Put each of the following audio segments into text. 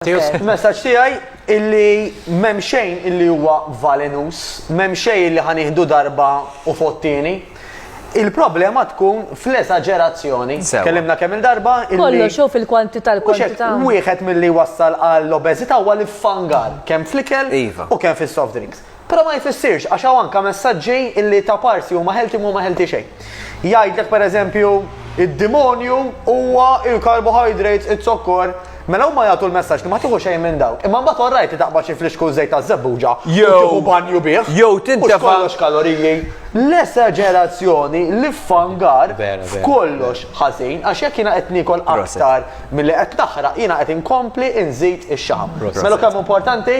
Il-messaġġ tiegħi illi m'hemm xejn illi huwa valenus, m'hemm xejn illi ħa nieħdu darba u fottieni. Il-problema tkun fl-eżaġerazzjoni. Tkellimna kemm il-darba illi. Kollox jew fil-kwantità l-kwantità. Wieħed milli wassal għall-obeżità huwa l-iffangar kemm fl-ikel iva. u kemm fis-soft drinks. Però ma jfissirx, għax hawn anke messaġġi li ta' parsi huma healthy u mhuma healthy xejn. Jgħidlek pereżempju id-demonju huwa il-carbohydrates, iz-zokkor, mela huma jagħtu l-messaġġ li ma tieħu xejn minn dawk. Imma mbagħad orrajt li taqbad xi flixkun żejt taż-żebbuġa u tieħu banju bih. Jew tintefa'. Mhux kollox kaloriji. L-esaġerazzjoni, l-iffangar f'kollox ħażin għax jekk jiena qed niekol aktar milli qed naħraq jiena qed inkompli nżid ix-xaħam. Mela kemm hu importanti?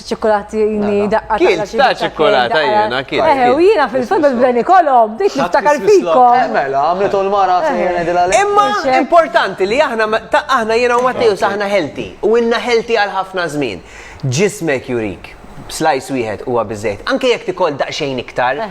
ċikkulatini daqqa. Kien ta' ċikkulata jena, kien. Eħe, u jena fil-fat bil-bdeni kolom, dik niftakar fiko. Eh, mela, għamletu l-mara Imma importanti li aħna, ta' aħna jena u Matteo saħna healthy, u inna healthy għal ħafna żmien. Ġismek jurik, slice wieħed huwa biżejt. Anke jekk tikol daqsxejn iktar,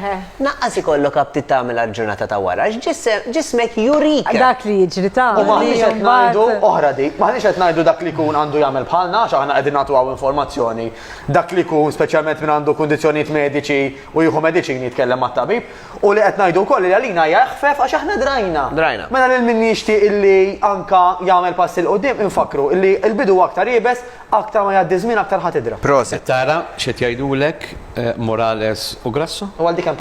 Naqqas ikollok aptit tagħmel għall-ġurnata ta' wara għax ġismek jurika. Dak li jiġri ta' U maħniex qed ngħidu, oħra dik, maħniex qed ngħidu dak li jkun għandu jagħmel bħalna għax aħna qegħdin nagħtu hawn informazzjoni. Dak li jkun, speċjalment min għandu kundizzjonijiet mediċi u jieħu mediċini jitkellem mat-tabib. U li qed ngħidu wkoll li għalina hija eħfef għax aħna drajna. Drajna. Mela lil min jixtieq illi anka jagħmel passi 'l quddiem infakkru illi l-bidu huwa aktar iebes, aktar ma jgħaddi ż-żmien aktar ħa tidra. Prosit. Qed tara x'qed jgħidulek Morales u Grasso? U għal dik hemm.